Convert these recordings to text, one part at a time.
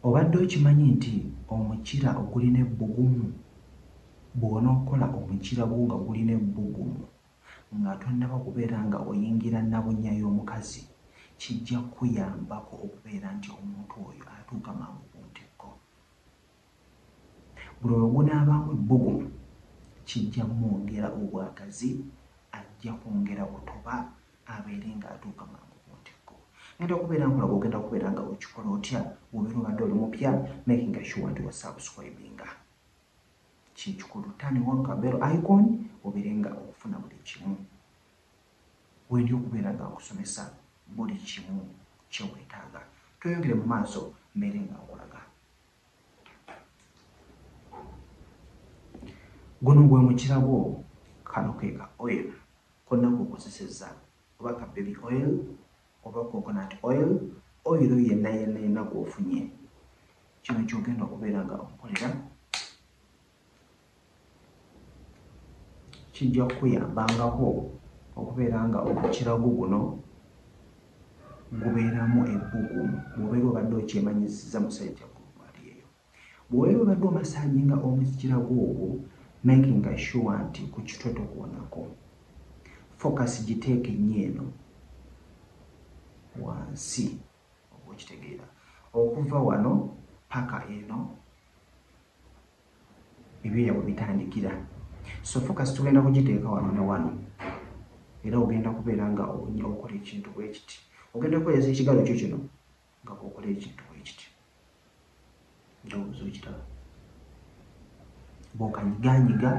Obadde okimanyi nti omukira ogulina ebbugumu bw'onookola omukira gwo nga gulina ebbugumu nga tonnaba kubeera nga oyingira nnabunya y'omukazi kijja kukuyambako okubeera nti omuntu oyo atuuka mangu ku ntikko. Buli lwe gunaabaamu ebbugumu, kijja mwongera obwagazi, ajja kwongera kutoba abeere ng'atuuka mangu ku ntikko. Ngenda kubeera nkola bw'ogenda kubeera nga okikola otya bw'obeera obadde oli mupya makinga sure nti wa subscribinga. Kye kikulu turn on ka bell icon obeere nga ofuna buli kimu. Wendi okubeera nga nkusomesa buli kimu kye weetaaga. Tweyongere mu maaso mbeere nga nkulaga. guno gwe mukirabwo kano ke ka oil konna kukozesezza oba ka baby oil oba coconut oil oil yenna yenna yenna gwofunye kino kyogenda okubeera nga okolera kijja kukuyambangako okubeera nga omukirago guno gubeeramu ebbugumu bwobeera obadde okyemanyisiza musajja gwoaliyeyo bwobeera obadde omasaji nga omukirago ogwo makinga sure nti ku kitwe tokuwonako focus giteeke nnyo eno wansi okitegeera okuva wano paka eno ebyoya we bitandikira so focus tugenda kugiteeka wano ne wano era ogenda kubeera nga okola ekintu bwekiti ogenda kukozesa ekigalo kyo kino nga okola ekintu bwekiti ndowooza okiraba bwokanyiganyiga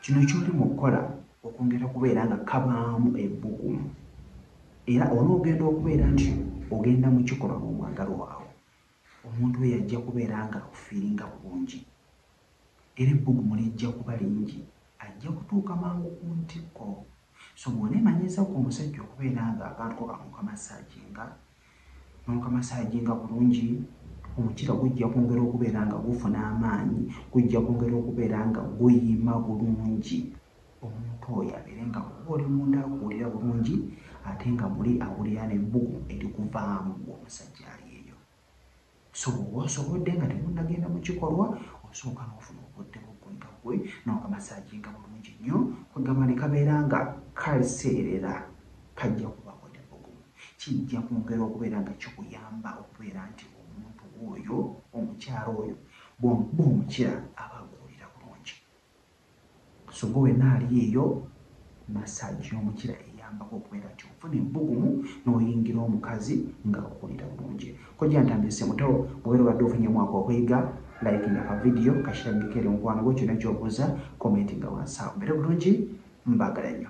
kino kyoli mu kukola okwongera kubeera nga kabaamu ebbugumu era onoogenda okubeera nti ogenda mu kikolwa n'omwagalwa waawo omuntu we yajja kubeera nga akufiiringa bulungi Era ebbugumu lijja kuba lingi. Ajja kutuuka mangu ku ntikko. So bw'oneemanyiiza ggwe omusajja okubeera nga abantu bo bamukamasaaginga, n'okamasaaginga bulungi, omukiira gujja kwongera okubeera nga gufuna amaanyi, gujja kwongera okubeera nga guyima bulungi, omuntu oyo abeere nga bw'oba oli munda akuwulira bulungi ate nga muli awulira n'ebbugumu erikuvaamu, ggwe omusajja ali eyo. so wosobodde nga temunnagenda mu kikolwa osooka n'ofuna obudde bw'oggumba ggwe n'okamasaaginga bulungi nnyo kwegamba ne kabeera nga kaseerera kajja kubaako ebbugumu kijja kwongera okubeera nga kikuyamba okubeera nti omuntu oyo omukyala oyo bw'omuba omukira aba akuwulira bulungi. Ssogo wenna ali eyo, massage y'omukira eyambako okubeera nti ofuna ebbugumu n'oyingira omukazi nga owulira bulungi. Kojja Ntambi Ssemutawo bw'obeera obadde ofunyemu ako okuyiga, likinga ka vidiyo kakirambikeko eri mukwano gwo, kyonna ky'obuuza komentinga wansi awo. Mubeere bulungi, mbaagala nnyo.